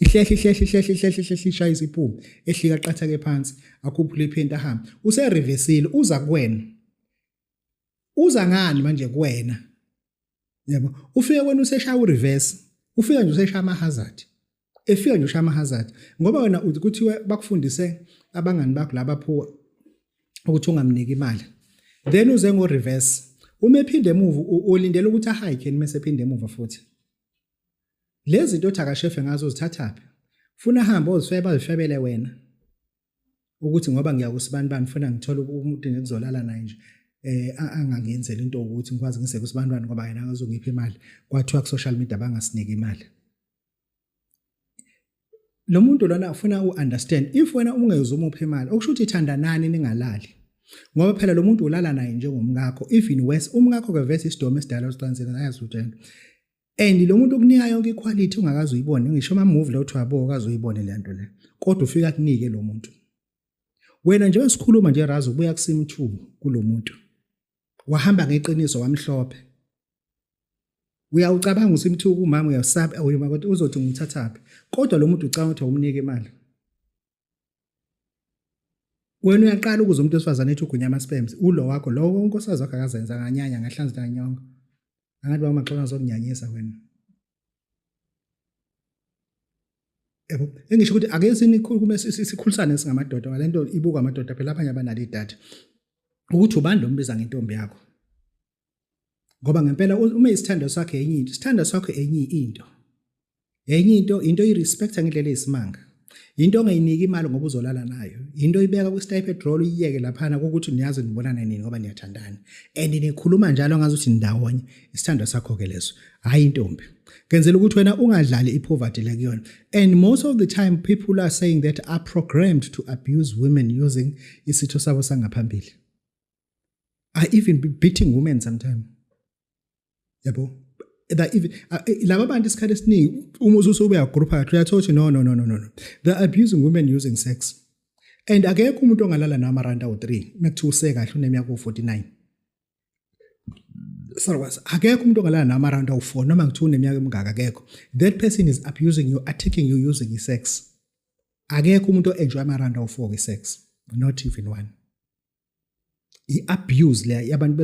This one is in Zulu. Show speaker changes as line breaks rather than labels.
ihlehle ihlehle ihlehle ihlehle ihlehle ishaya isiphume ehlika qathake phansi akhuphule iphenti ahambe userivesile uza kuwena uza ngani manje kuwena yabo ufike wena useshaya ureverse ufika nje useshaya ama hazard efika nje ushaya ama hazard ngoba wena uthi kuthiwe bakufundise abangani bakho laba phuwa ukuthi ungamniki imali then uze ngo reverse uma ephinde emuva ulindele ukuthi ahike nima esephinde emuva futhi Lezi zinto othi akashefe ngazo zithathaphi. Funa ahambe ozifeba azifebele wena. Ukuthi ngoba ngiya kusibani bani funa ngithole umuntu ngikuzolala naye nje. eh angangenzela into ukuthi ngikwazi ngise kusibantwana ngoba yena akazongipha imali kwathiwa ku social media bangasinike imali lo muntu lona ufuna u understand if wena ungezwe umupha imali okusho ukuthi ithanda nani ningalali ngoba phela lo muntu ulala naye njengomkakho even worse umkakho ke vese isidomo esidala usicansela ayazi utshena and lo muntu okunika yonke iquality ungakazi uyibone ngisho ama move la uthi wabo kazi uyibone le nto le kodwa ufika kunike lo muntu wena njengoba sikhuluma nje razi ubuya kusimthuku kulo muntu wahamba ngeqiniso wamhlophe uyawucabanga ukuthi imthuku umama uyasaba uyima kodwa uzothi ngithathaphi kodwa lo muntu ucabanga ukuthi awumnike imali wena uyaqala ukuze umuntu wesifazane ethi ugunya ama-spams ulo wakho lowo wonke osazi wakho akazenza nganyanya ngahlanzi nganyongo angathi baba maxona zokunyanyisa wena yabo engisho ukuthi ake sinikhulume sikhulisane singamadoda ngale nto ibuka amadoda phela abanye abanalo idatha ukuthi ubani lo mbiza ngentombi yakho ngoba ngempela uma isithando sakhe enye into isithando sakho enye into enye into into irespecta ngendlela eyisimanga into ongayiniki imali ngoba uzolala nayo into ibeka kwi-sty petrol uyiyeke laphana kokuthi niyazi nibonana nini ngoba niyathandana and nikhuluma njalo ngazi ukuthi nindawonye isithando sakho-ke leso hhayi intombi ngenzela ukuthi wena ungadlali i-poverty le kuyona and most of the time people are saying that are programmed to abuse women using isitho sabo sangaphambili are even beating women sometimes yabo that even uh, eh, laba bantu isikhathi esiningi uma ususu ubeya group phakathi uyathola ukuthi no no no no no they are abusing women using sex and akekho umuntu ongalala nama rand awu 3 mekuthiwa use kahle uneminyaka u49 sorry was akekho umuntu ongalala nama rand awu 4 noma ngithiwa uneminyaka emingaka akekho that person is abusing you attacking you using i sex akekho umuntu oenjoy ama rand awu4 ke sex not even one i abuse le yabantu